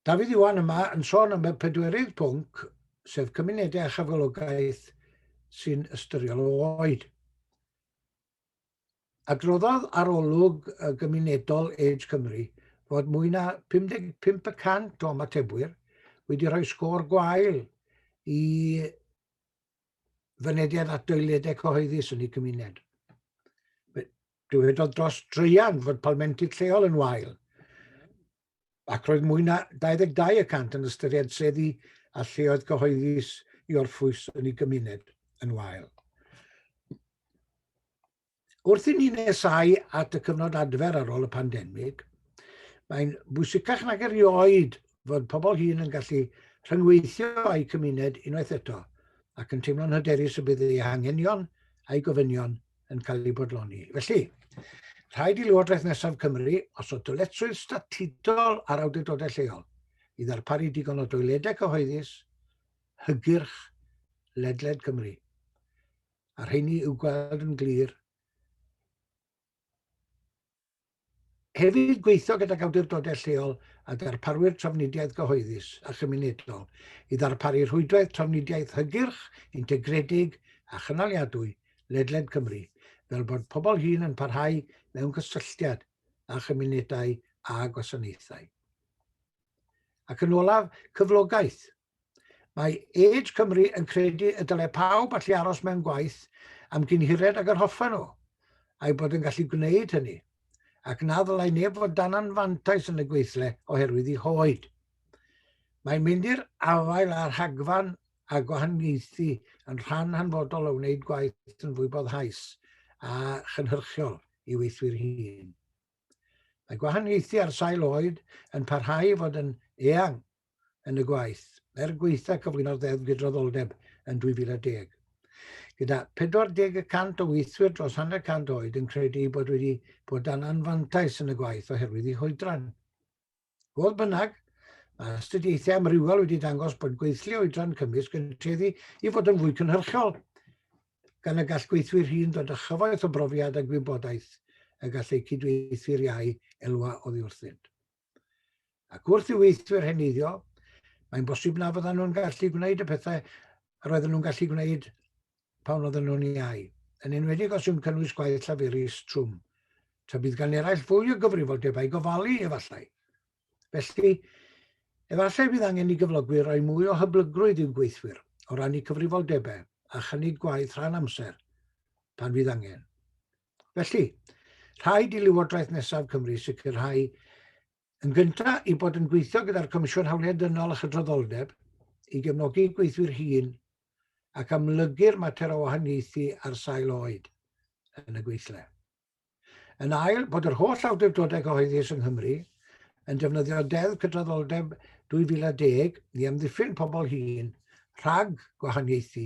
Dafydd Iwan yma yn sôn am y pedwerydd pwnc, sef cymunedau a chyfalogaeth sy'n ystyriol o oed. Adroddodd arolwg y gymunedol Age Cymru fod mwy na 55% o ymatebwyr wedi rhoi sgôr gwael i fynediad at doiledau cyhoeddus yn eu cymuned. Dywedodd dros dreian fod palmentydd lleol yn wael, ac roedd mwy na 22 y cant yn ystyried seddi a lleoedd cyhoeddus i orffwys yn ei gymuned yn wael. Wrth i ni nesau at y cyfnod adfer ar ôl y pandemig, mae'n bwysicach nag erioed fod pobl hŷn yn gallu rhyngweithio â'u cymuned unwaith eto ac yn teimlo'n hyderus y bydd eu hangenion a'i gofynion yn cael eu bodloni. Felly, rhaid i Lywodraeth Nesaf Cymru osod dyletswydd statudol ar awdurdodau lleol i ddarparu digon o doiledau cyhoeddus, hygyrch, ledled Cymru. a rheini i'w gweld yn glir. Hefyd gweithio gydag awdurdodau lleol a darparwyr trafnidiaeth gyhoeddus a chymunedol i ddarparu rhwydwaith trafnidiaeth hygyrch, integredig a chynaliadwy ledled Cymru, fel bod pobl hŷn yn parhau mewn cysylltiad â chymunedau a gwasanaethau. Ac yn olaf, cyflogaeth Mae Age Cymru yn credu y dylai pawb allu aros mewn gwaith am gyn hired ag yr hoffen nhw, a'i bod yn gallu gwneud hynny, ac na ddylai neb fod dan anfantais yn y gweithle oherwydd ei hoed. Mae'n mynd i'r afael â rhagfarn a gwahaniaethu yn rhan hanfodol o wneud gwaith yn fwy boddhaus a chynhyrchiol i weithwyr hun. Mae gwahaniaethu ar sail oed yn parhau i fod yn eang yn y gwaith, er gwaetha cyflwyno'r Ddeddf Gydraddoldeb yn 2010. Gyda 40 y cant o weithwyr dros hanner cant oed yn credu eu bod wedi bod dan anfantais yn y gwaith oherwydd eu hoedran. Fodd bynnag, mae astudiaethau amrywiol wedi dangos bod gweithlu oedran cymysg yn tueddu i fod yn fwy cynhyrchiol, gan y gall gweithwyr hyn ddod â chyfoeth o brofiad a gwybodaeth y gall eu cydweithwyr iau elwa oddi wrthynt. Ac wrth i weithwyr heneiddio, mae'n bosib na fyddan nhw'n gallu gwneud y pethau yr oedden nhw'n gallu gwneud pan oedden nhw'n iau, yn enwedig os yw'n cynnwys gwaith llaferus trwm. Ta bydd gan eraill fwy o gyfrifoldebau gofalu, efallai. Felly, efallai bydd angen i gyflogwyr roi mwy o hyblygrwydd i'w gweithwyr o rannu cyfrifoldebau a chynnig gwaith rhan amser pan fydd angen. Felly, rhaid i Lywodraeth Nesaf Cymru sicrhau yn gyntaf i bod yn gweithio gyda'r Comisiwn Hawliau Dynol a Chydraddoldeb i gefnogi gweithwyr hun ac amlygu'r mater o wahaniaethu ar sail oed yn y gweithle. Yn ail, bod yr holl awdurdodau cyhoeddus yng Nghymru yn defnyddio Deddf Cydraddoldeb 2010 i amddiffyn pobl hŷn rhag gwahaniaethu